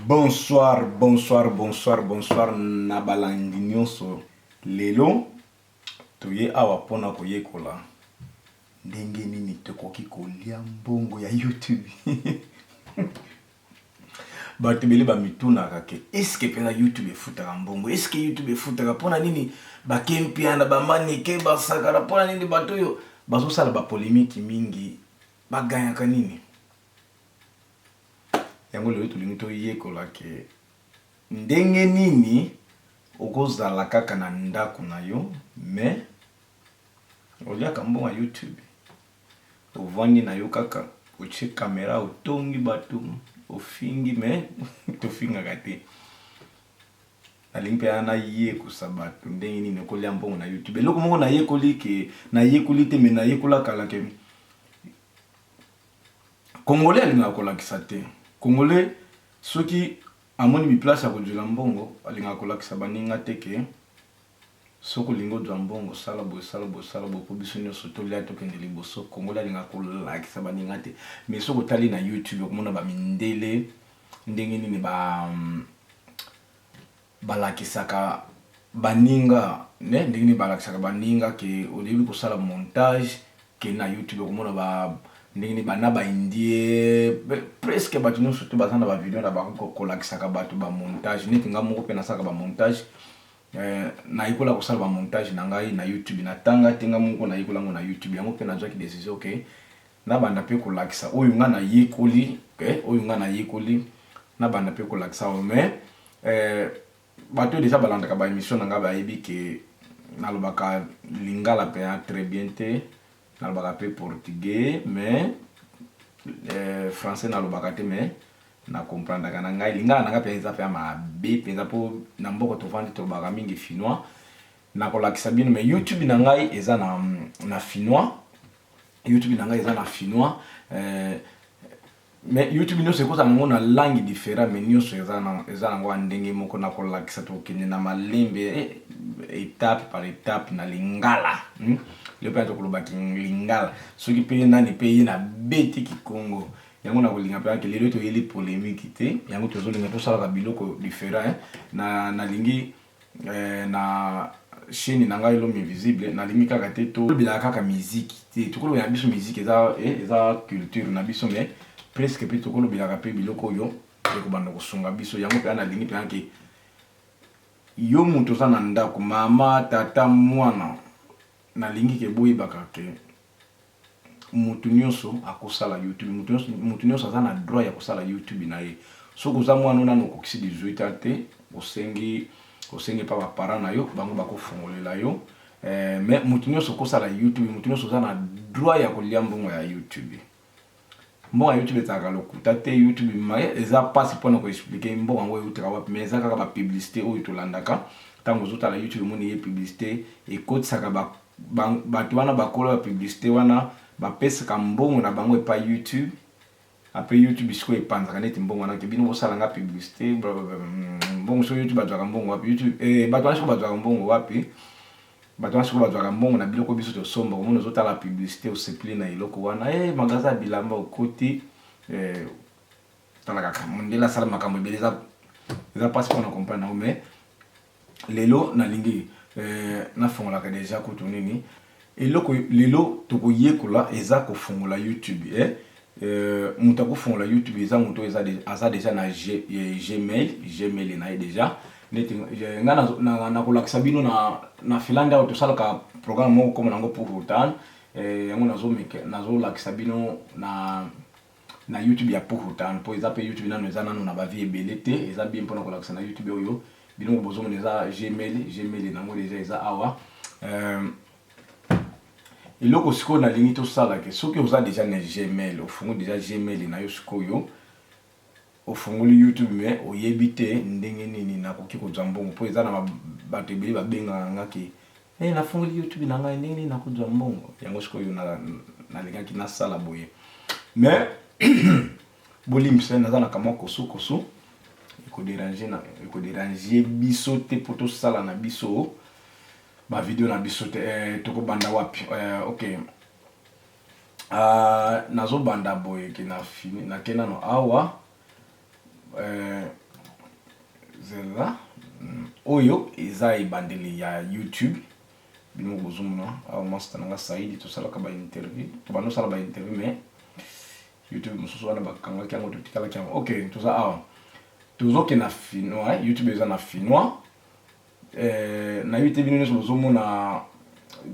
Bonsoir bonsoir bonsoir bonsoir na balandi nionso lelo toye awa pona koyekola ndenge nini tokoki kolia mbongo ya youtube bato ebele bamitunaka ke eske mpena youtube efutaka mbongo eske youtube efutaka mpona nini bakempiana bamanike basakana mpona nini bato oyo bazosala bapolemiki mingi baganyaka nini Yango lelo tolingi toyekola ke ndenge nini okozala kaka na ndako na yo me oliaka mbongo ya YouTube ovandi na yo kaka otie kamera otongi bato ofingi me tofingaka te nalingi mpe ana yekosa bato ndenge nini okolia mbongo na youtube eloko moko nayekoli ke nayekoli te me nayekola kala ke Congolais alingaka kolakisa te. Congolais soki amoni bi place ya kozuila mbongo alingaka kolakisa baninga te ke soki olingi ozua mbongo sala boye sala boye sala boye po biso nionso tolia tokende liboso. Congolais alingaka kolakisa baninga te mais soki otali na YouTube okomona ba mindele ndenge nini ba Balakisaka baninga mais ndenge nini balakisaka baninga que oyebi kosala montage kende na youtube okomona ba ndenge nini ba na ba indie presque batu nionso tout baza na ba video na bango kolakisaka batu ba montage neti nga moko pe nasalaka ba montage na yekola kosala ba montage na ngai na youtube na tanga te nga moko na yekola yango na youtube yango pe nazwaki decision que na banda pe kolakisa oyo nga na yekoli oyo nga na yekoli na banda pe kolakisa mais Eh batu oyo dejà balandaka ba emission na nga bayebi ke nalobaka lingala pena très bien te nalobaka pe portugais mais eh, français nalobaka te mais na comprendaka na ngai lingala na nga pena eza pena mabe pena po na mboko tovandi tolobaka mingi finois nakolakisa bino mais youtube na ngai eza na, na finois youtube na ngai eza na finois eh, Mais youtube nioso ekozala nango na langue different mais nioso eza na eza nango ya ndenge moko na kolakisa tokende na malembe etape par etape na lingala hmm? leo mpe tokoloba lingala soki mpe nani mpe ye na beti kikongo yango na kolinga mpe ake lelo toyeli polemique te yango tozolinga tosalaka biloko different eh? na nalingi Eh, na chaîne na ngai l'homme invisible nalingi kaka te to bilaka kaka musique te tokolo ya biso musique eza eh, eza culture na biso mais presque pe tokolo bilaka pe biloko oyo eko banda kosunga biso yango pe ana lingi pe anke yo moto oza na ndako mama tata mwana nalingi ke boyebaka ke mutu nioso akosala youtube mutu nioso mutu nioso aza na droit ya kosala youtube na ye soki oza muana oyo nanu okokisi 18 ans te osengi osengi epa ba parents na yo bango bako fongolela yo eh, mais mutu nioso okosala youtube mutu nioso oza na droit ya kolia mbongo ya youtube mbongo youtube ezalaka lokuta te youtube maye eza mpasi mpona koexplike mbongo yango eutaka wapi mai eza kaka bapublicité oyo tolandaka ntango ozotala youtube omoni ye publicité ekotisaka ba Ba batu wana ba kolo ya publicite wana ba pesaka mbongo na bango epai YouTube apres YouTube sikoyo epanzaka neti mbongo wana ke bino bosala nga publicite blablabla mbongo sikoyo YouTube azwaka mbongo wapi YouTube eh batu wana sikoyo bazwaka mbongo wapi batu wana sikoyo bazwaka mbongo na biloko biso tosomba omoni ozotala publicite osepeli na eloko wana eh magasin ya bilamba okoti eh, talaka mundele asala makambo ebele eza eza mpasi mpona comprendre yango mais lelo nalingi eh, nafongolaka deja kutu nini eloko lelo tokoyekola eza kofungola youtube eh? Euh, moto akofungola youtube eza moto eza de, aza deja na G, eh, gmail gmail na ye deja neti eh, ngai nakolakisa na, na bino na, na finlande awa tosalaka programme moko koma nango pour rotan eh, yango nazolakisa bino na na YouTube ya puhu town po eza pe YouTube nanu eza nanu na ba vie ebele te eza bien pona kolakisa na YouTube oyo biloko bozomona eza gmail gmail nango deja eza awa euh, eloko sikoyo nalingi tosala ke soki oza deja na gmail ofungoli deja gmail na yo sikoyo ofungoli youtube me oyebi te ndenge nini nakoki kozwa mbongo mpo eza na bato ebele babengaka nga ke Hey, nafungoli YouTube na ngai ndenge nini nakozwa mbongo yango sikoyo nalingaki na, nasala boye mais bolimbisa naza na kamwa kosukosu ekoderange biso te mpo tosala na biso bavideo na biso te eh, tokobanda wapi eh, ok uh, nazobanda boye ke na fini nake nano awa Euh, zela hmm, oyo eza ebandeli ya youtube bino kozomona awa masta na nga saidi tosalaka bainterview tobanda osala bainterview mais youtube mosusu wana bakangaki yango totikalaki yango ok toza awa tozokenda finoi youtube eza na finoi Nayebi te bino nionso bozo mona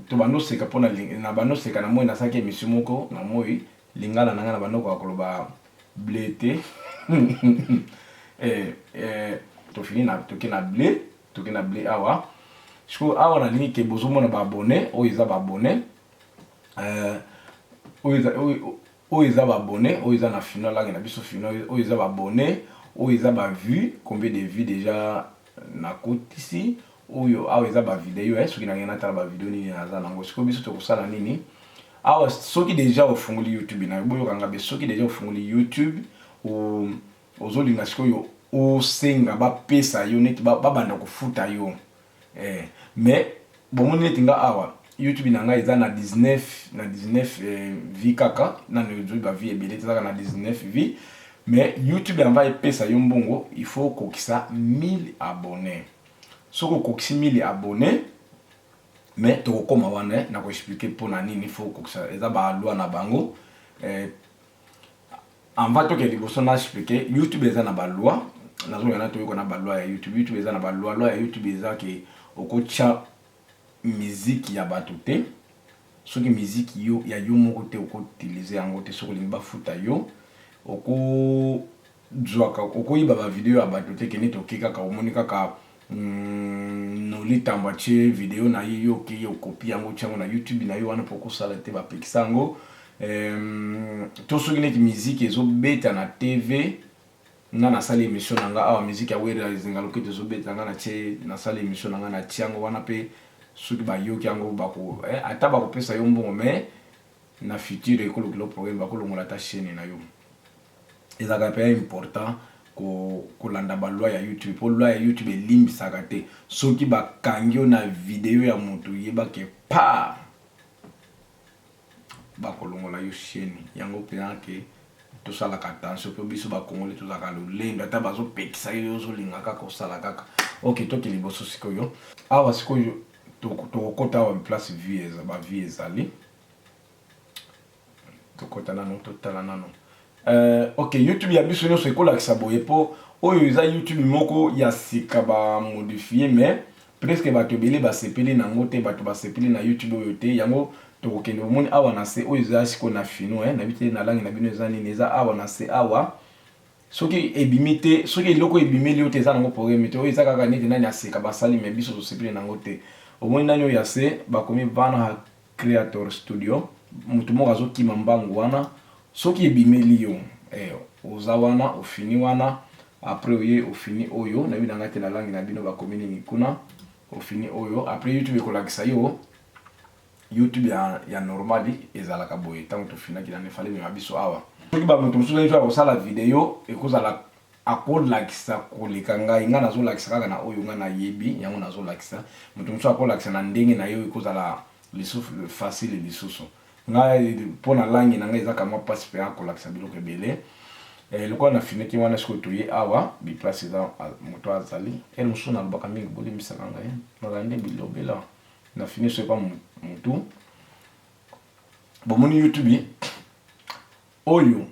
to banda oseka pona na banda oseka na moi na saki emission moko na moi lingala na nga na banda okoka koloba ble te to fini na toke na ble toke na ble awa siko awa na lingi ke bozo mona ba abonne oyo eza ba abonne oyo eza Oyo eza ba abonne oyo eza na fino alaki na biso fino oyo eza ba abonne oyo eza ba vue combien de vue deja na kotisi oyo awa eza ba video eh soki na ngai na tala ba video nini na za na ngo siko biso toko sala nini awa soki deja ofunguli youtube na boyo kanga be soki deja ofunguli youtube o ozo linga siko yo osenga ba pesa yo neti ba banda kofuta yo Eh, mais bomoni neti nga awa YouTube na nga eza na 19 na 19 eh, vie kaka na ndozo ba vie ebele tezaka na 19 vie mais YouTube amba epesa yo mbongo il faut kokisa 1000 abonnés soko kokisi 1000 abonnés mais tokokoma wana eh, na ko expliquer pona nini faut kokisa eza ba loi na bango eh, Anva toke liboso na explike youtube eza na ba loi nazonga na toyoko na ba loi ya youtube youtube eza na ba loi loi ya youtube eza ke okotya miziki ya bato te soki miziki yo ya yo moko te okoutilize yango te soki olingi bafuta yo oko Zwaka okoyiba ba video ya batu te kende toke kaka omoni kaka Nolly tambo atie video naye yo okeyi okopi yango otie yango na YouTube nayo wana pe okosala te bapekisa yango to soki neti miziki ezo beta na TV nga nasali emission nanga awa miziki ya Werra ezinga loketo ezo beta nga natie nasali emission nanga natie yango wana pe soki bayoki yango bako ata bakopesa yo mbongo mais na future ekolukela yo problème bakolongola ata chaine nayo. ezalaka pe important kolanda ba loi ya YouTube po loi ya YouTube elimbisaka te soki bakangi yo na video ya mutu yeba ke paa bakolongola yo sheni yango pena ke tosalaka attention po biso bakongoli tozalaka lolendo ata bazopekisa yo ozolinga kaka osala kaka ok toki liboso sikoyo awa sikoyo tokokota awa place vie eza ba vie ezali Tokota nano totala nano. Euh, ok, YouTube ya biso nyonso ekolakisa boye po oyo eza YouTube moko ya sika ba modifie mais presque bato ebele basepeli na yango te bato basepeli na YouTube oyo te yango tokokende omoni awa na se oyo eza sikoyo na fino eh, nayebi te na langi na bino eza nini eza awa na se awa soki ebimi te soki eloko ebimeli yo te eza nango probleme te oyo eza kaka neti nani aseka basali me biso tosepeli na yango te omoni nani oyo ya se bakomi van Creator studio mutu moko azo kima mbangu wana soki ebimeli yo eh oza wana ofini wana après oye ofini oyo nayebi na nga te na langue na bino bakomi nini kuna ofini oyo après youtube ekolakisa yo youtube ya, ya normali ezalaka boye ntango tofinaki na nefale mema biso awa soki bamoto mosusu ayebi akosala video ekozala Akolakisa koleka ngai. Ngai nazolakisa kaka na oyo ngai nayebi, yango nazolakisa. Moto mosusu akolakisa na ndenge na ye, oyo ekozala lisusu facile lisusu. Ngai, mpo na langue na ngai eza kamwa mpasi mpenza kolakisa biloko ebele. Eh, lokola nafinaki wana, sikoyo toye awa, biplace eza, moto azali. Heure mosusu nalobaka mingi, bolimbisaka ngai. Nazala nde bilobela. Nafini soki pa motu. Bomoni YouTube? Oyo.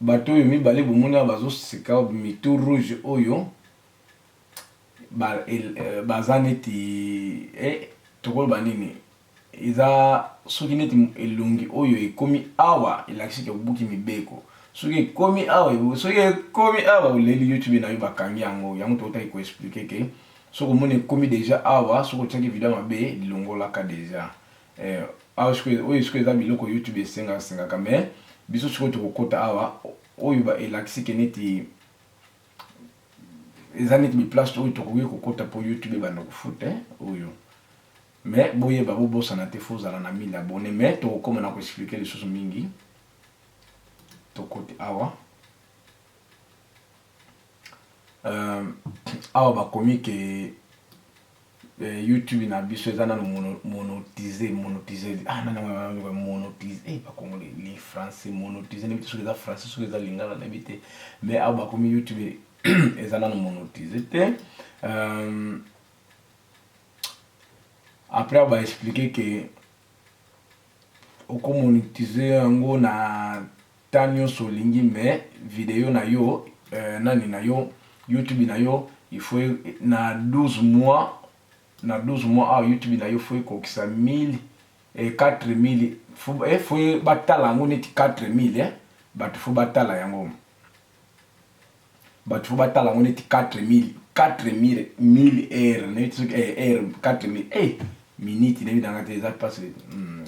Bato oyo mibale bomoni awa bazo seka mitu rouge oyo baza neti eh tokoloba nini eza soki neti elongi oyo ekomi awa elakisi ke obuki mibeko soki ekomi awa soki ekomi awa oleli youtube na yo bakangi yango yango totaki ko explike ke soki omoni ekomi deja awa soki otiaki video mabe lilongolaka deja Eh awa sikoyo oyo sikoyo eza biloko youtube esenga sengaka mais biso sikoyo tokokota awa oyo ba elakisi ke neti eza neti bi place oyo tokoki kokota po youtube ebanda kofuta oyo mais boyeba bobosana te fo ozala na 1000 abonne mais tokokoma na koexplike lisusu mingi tokoti awa Euh awa ba komi ke euh, YouTube na biso eza nanu mono, monotise, monotise ah nani yango wana lokola monotise eh ba congolais li français monotise na biso soki eza français soki eza lingala na bite mais awa ba komi YouTube eza nanu monotise te euh, après awa ba expliquer ke Oko monetiser yango na temps nionso olingi mais video nayo euh nani nayo YouTube nayo il faut na 12 mois na 12 mois awa YouTube nayo faut ekokisa 1000 eh 4000 eh faut batala yango neti 4000 eh batu faut batala yango. Batu faut batala yango neti 4000 4000 1000 heures neti soki eh heure 4000 eh minute nayebi nanga te eza pasi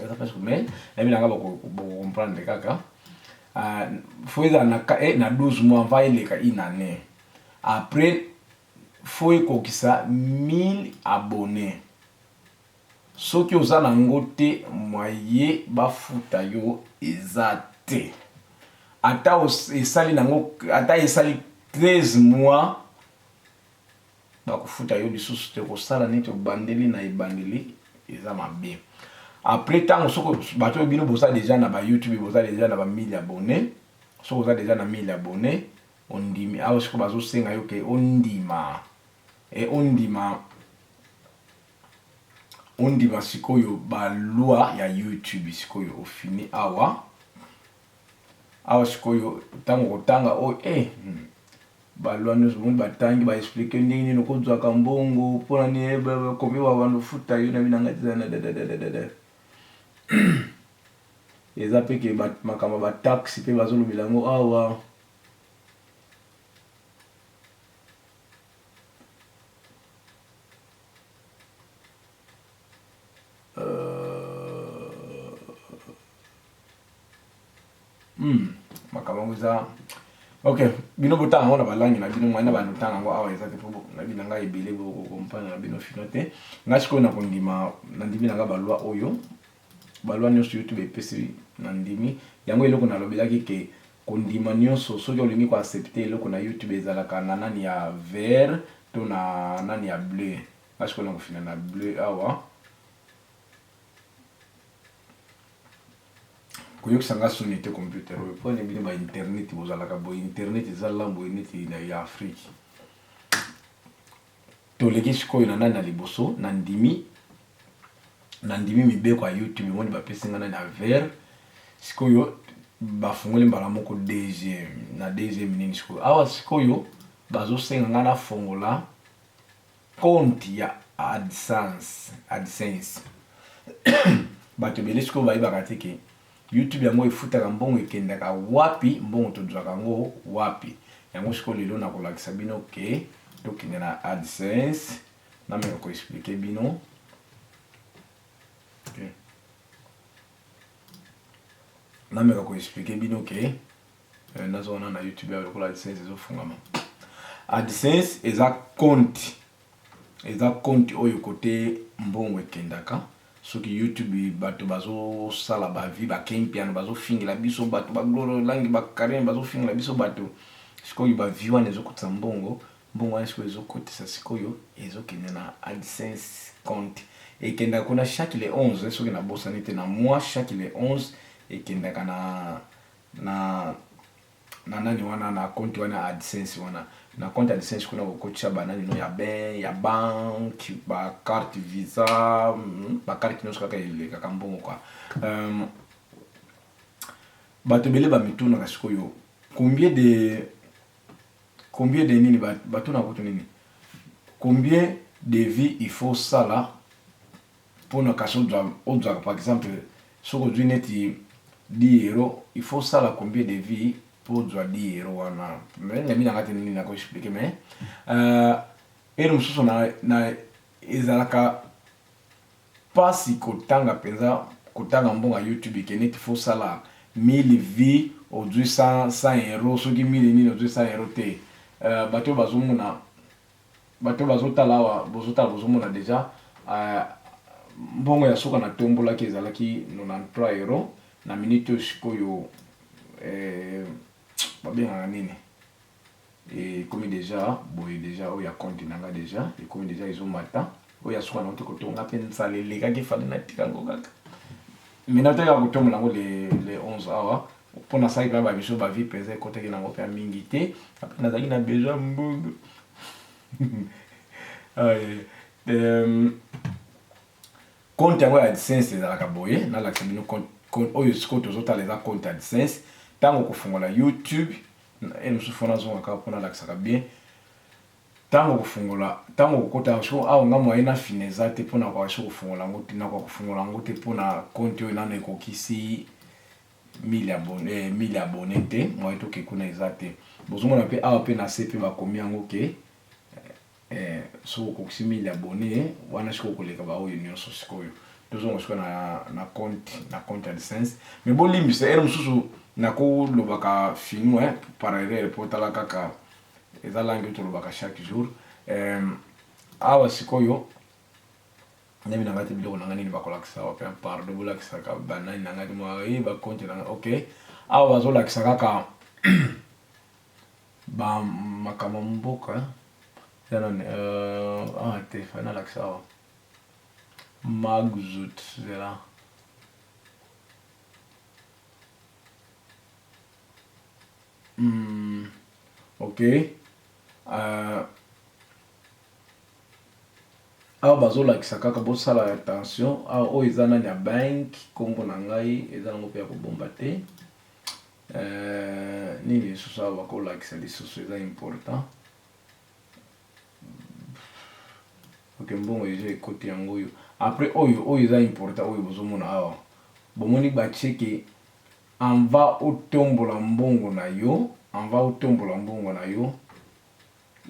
eza pasi mais nayebi nanga bako bako comprendre kaka faut ezala na eh na 12 mois mva eleka une année après faut ekokisa 1000 abonnés Soki oza na ngo te moyen ba futa yo eza te ata esali na ngo ata esali 13 mois bako futa yo lisusu te kosala neti obandeli na ebandeli eza mabe après tango soko bato oyo bino boza deja na ba youtube boza deja na ba 1000 abonne soko oza deja na 1000 abonne ondimi awa soko bazosenga yo ke ondima e ondima ondima sikoyo ba loi ya YouTube sikoyo ofini awa awa sikoyo tango kotanga oyo eh hmm. ba loi nyonso bomoni batangi ba explique ndenge nini okozwaka mbongo mpona nini eh, kombi babanda ofuta yo na binanga tizana dadadadada eza mpe ke makambo ya bataxe mpe bazolobela yango awa Hmm, makambo yango eza ok bino botanga yango na balangi na bino ngai na bando ntanga yango awa eza te mpo nayebi na ngai ebele bokokompane na bino fino te ngai sikoyo nakondima nandimi na ngai balwa oyo Balua nionso youtube epesi na ndimi yango eloko na lobelaki ke kondima nionso soki olingi ko accepte eloko na youtube ezalaka na nani ya vert to na nani ya bleu nga sikoyo na kofina na bleu awa koyokisa nga soni te computer oyo pone bino ba internet bozalaka boye internet eza lambo neti ya afrique Toleki sikoyo na nani na liboso na ndimi na ndimi mibeko ya youtube yango nde bapesi nga nani ya vert sikoyo bafungoli mbala moko deuxième na deuxième nini sikoyo awa sikoyo bazosenga nga nafongola compte ya adsense adsense bato ebele sikoyo bayebaka te ke YouTube yango efutaka mbongo ekendaka wapi mbongo tozwaka yango wapi yango sikoyo lelo nakolakisa bino ke tokende na AdSense nameka ko expliquer bino okay. nameka ko expliquer bino ke eh, nazo wana na YouTube ya lokola AdSense ezofungama AdSense eza compte Eza compte oyo cote mbongo ekendaka soki YouTube batu bazo sala ba vie ba ken mpiana bazo fingela biso batu ba glore langi ba carine bazo fingela biso batu sikoyo ba vie wana ezo kotisa mbongo mbongo wana sikoyo ezo kotisa sikoyo ezo kende na AdSense compte ekendaka kuna chaque le 11 soki na bosani te na mois chaque le 11 ekendaka na na na nani wana na compte wana AdSense wana na compte AdSense kuna kokotisa ba nani no ya ben ya banque ba carte visa hmm, ba carte nyonso kaka elekaka mbongo kwa um, bato ebele bamitunaka sikoyo combien de combien de nini batuna kutu nini combien de vie il faut sala pona kasi ozwaka par exemple soki ozwi neti 10 euro il faut osala combien de vie po ozwa 10 euro wana mais nayebi na nga te nini nako expliquer mais euh, ere mosusu na, na ezalaka pasi kotanga mpenza kotanga mbongo ya youtube ke neti fo osala 1000 vie ozwi 100 euro soki 1000 nini ozwi 100 euro te euh, bato oyo bazomona Bato bazo tala awa bozo tala bozo mona dejà mbongo ya suka na tombolaki ezalaki 93 euro na minute oyo sikoyo ba bengaka nini ekomi dejà boye dejà oyo ya compte na nga dejà ekomi dejà ezo mata oyo ya suka nauti kotonga mpe nsala elekaki efandi natika yango kaka mai nataki kaka kotombola yango le, le 11 awa mpo nasalaki mpenza bamiso bavi mpenza ekotaki na yango mpe mingi te ape nazalaki na besoin mbongo compte yango ya adsense ezalaka boye nalakisa bino oyo sikoyo tozotala eza compte adsense ntango kofungola youtube e mosusu fona azongaka mpo nalakisaka bien Tango okofungola tango okokota yango sikoyo awa nga moyen na fina eza te pona koka esi kofungola yango te nakoka kofungola yango te pona compte oyo nanu ekokisi 1000 abonne eh 1000 abonne te moyen toke kuna eza te bozomona pe awa pe nase pe bakomi yango ke eh soki okokisi 1000 abonne wana sikoyo okoleka ba oyo nioso sikoyo tozonga sikoyo na na compte na compte AdSense mais bolimbisa heure mosusu nako lobaka finu eh par erreur po tala kaka Eza langue oyo tolobaka chaque jour. Euh, awa sikoyo nemi na ngai te biloko na ngai nini bakolakisa wapi hein? pardon bolakisaka banani na ngai mwa ye eh, bakonte na ngai ok awa bazolakisa kaka bamakambo mboka eza nani euh, ah te fai nalakisa awa magzut zela Hum ok euh awa bazo lakisa kaka bo sala attention awa oyo eza nani ya bank kombo na ngai eza nango pe ya ko bomba te euh nini lisusu awa bako lakisa lisusu eza important ok mbongo eza ekoti yango oyo après oyo oyo eza important oyo bozo mona awa bomoni ba tieke En va otombola mbongo na yo, en va otombola mbongo na yo,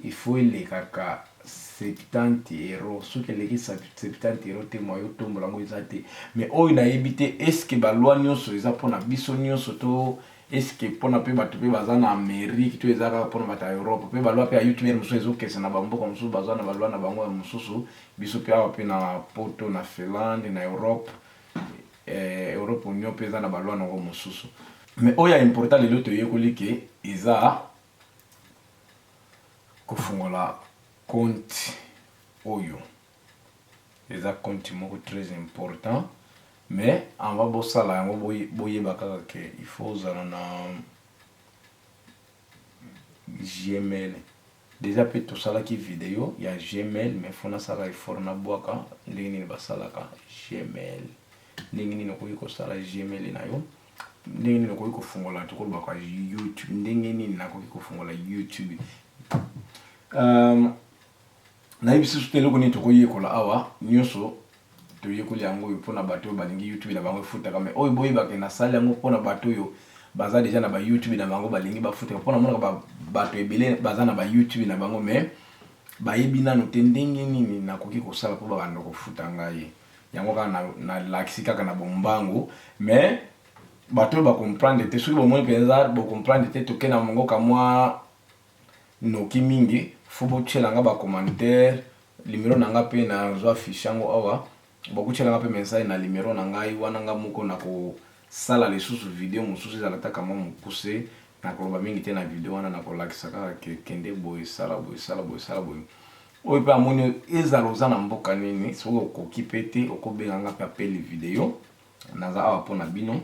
il faut elekaka 70 euros, soki eleki 70 euros te moyen otombola yango eza te. Mais oyo nayebi te est ce que ba loi nionso eza pona biso nionso to est ce que pona pe batu pe baza na Amerique to eza kaka pona batu ya Europe? Pe ba loi pe ya UTMIR mosusu ezo kesa na ba mboka mosusu baza na ba loi na bango ya mosusu, biso pe awa pe na poto, na Finlande, na Europe, Eeh Europe union pe eza na ba loi nango mususu. Mais oyo ya important lelo toyekoli ke eza kofungola compte oyo eza compte moko très important mais avant bosala yango boyeba kaka ke il faut ozala na gmail. Dejà pe tosalaki video ya gmail mais faut nasala effort nabuaka ndenge nini basalaka gmail ndenge nini okoki kosala gmail na yo ndenge nini okoki kofungola tokolobaka youtube ndenge nini nakoki kofungola youtube um, nayebisi biso te eloko nini tokoyekola awa nyonso Toyekoli yango oyo pona batu oyo balingi YouTube na bango efutaka mais oyo boyeba ke nasali yango pona batu oyo baza deja na ba YouTube na bango balingi bafutaka pona monaka ba batu ebele baza na ba YouTube na bango mais bayebi nanu te ndenge nini nakoki kosala po babanda kofuta ngai yango kaka na, na lakisi kaka na bombangu mais batu oyo ba comprendre te soki bomoni penza bo comprendre te toke na mongo kamwa noki mingi fo botyela nga ba commentaire Numero na nga pe na zwa affiche yango awa boko tiela nga pe message na numero na ngai wana nga moko na ko sala lisusu video mususu ezala ata ka mwa mukuse na ko loba mingi te na video wana na ko lakisa kaka ke kende boye sala boye sala boye sala boye oyo pe amoni ezala oza na mboka nini soki okoki pe te oko benga nga pe appel video naza awa pona bino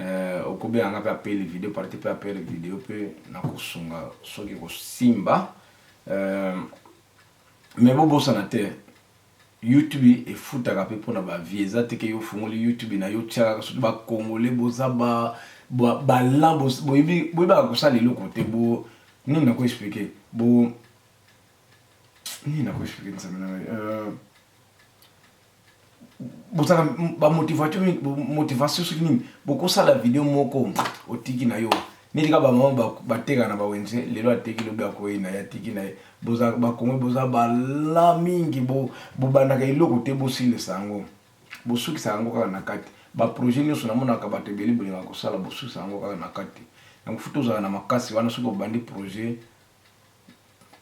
Euh, okobela nga mpe apeli video parti mpe apeli video mpe nakosunga soki kosimba euh, Mais bo bosana te YouTube efutaka pe pona ba vie eza te ke yo ofungoli YouTube na yo tia kaka soki ba congolais boza ba ba balan boyebi boyebaka kosala eloko te bo nini na ko expliquer bo nini na ko expliquer nzambe na ngai euh, bozala ba motivation motivation soki nini bokosala video moko otiki na yo neti kaka bamama bateka na bawenze lelo ateki lobi akoyi na ye atiki na ye bakongo boza bala mingi bobandaka eloko te bosilisa yango bosukisa yango kaka na kati baprojet nyonso namonaka bato ebele bolingaka kosala bosukisa yango kaka na kati yango futa ozala na makasi wana soki obandi projet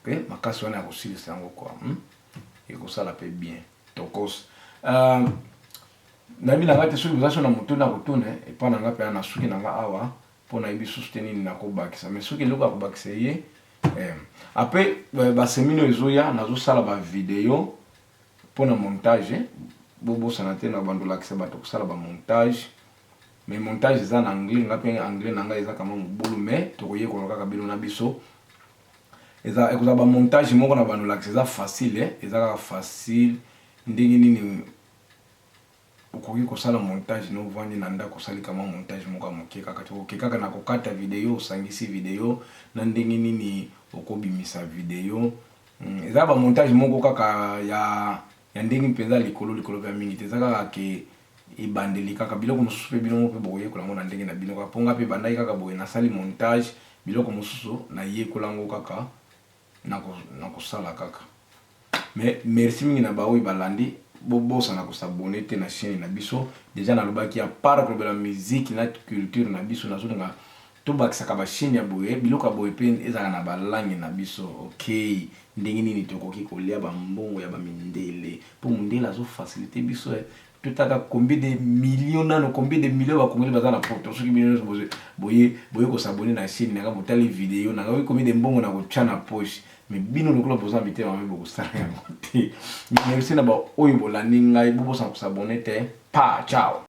pe makasi wana ya kosilisa yango kua hmm? ekosala pe bien tokos uh, nayebi na ngai te soki boza so na moto na kotuna epai na ngai mpe na suki na ngai awa mpo nayebi susu te nini nakobakisa mai soki eloko ya kobakisa ye eh, ape eh, basemini oyo ezoya nazosala bavideo mpo na montage bobosana te na bandolakisa bato kosala bamontage Mais montage eza na anglais nga pe anglais na nga eza kama mobulu mais toko yekola kaka bino na biso. Eza ekozala ba montage moko na bando lakisa eza facile eh eza kaka facile ndenge nini okoki kosala montage no vandi na ndako osali kama montage moko ya moke kaka te oke kaka na kokata video osangisi video na ndenge nini okobimisa video hmm, eza ba montage moko kaka ya ya ndenge mpenza ya likolo likolo mpe ya mingi te, eza kaka ke ebandeli kaka, biloko mosusu mpe bino moko mpe bokoyekola yango na ndenge na bino kaka, mpo ngai mpe ebandaki kaka boye, nasali montage, biloko mosusu nayekola yango kaka na kosala kaka. Mais merci mingi na baoyo balandi, bobosana ko s'abonner te na chaine na biso, dejà nalobaki, à part kolobela musique na culture na biso, nazolinga To bakisaka ba chaine ya boye, biloko ya boye pe ezalaka na ba langue na biso okay. Ndenge nini to koki ko lia ba mbongo ya ba mindele po mundele azo facilite biso eh. To taka combien de millions nanu combien de millions ba congolais baza na poto soki bino nionso bozo boye boye ko s'abonner na chaine nanga bo tali video nanga oyebi combien de mbongo nako tia na poche mais bino lokola boza na mitema mabe boko sala yango te. Merci na ba oyo bo landi ngai bo bosana ko s'abonner te pa ciao.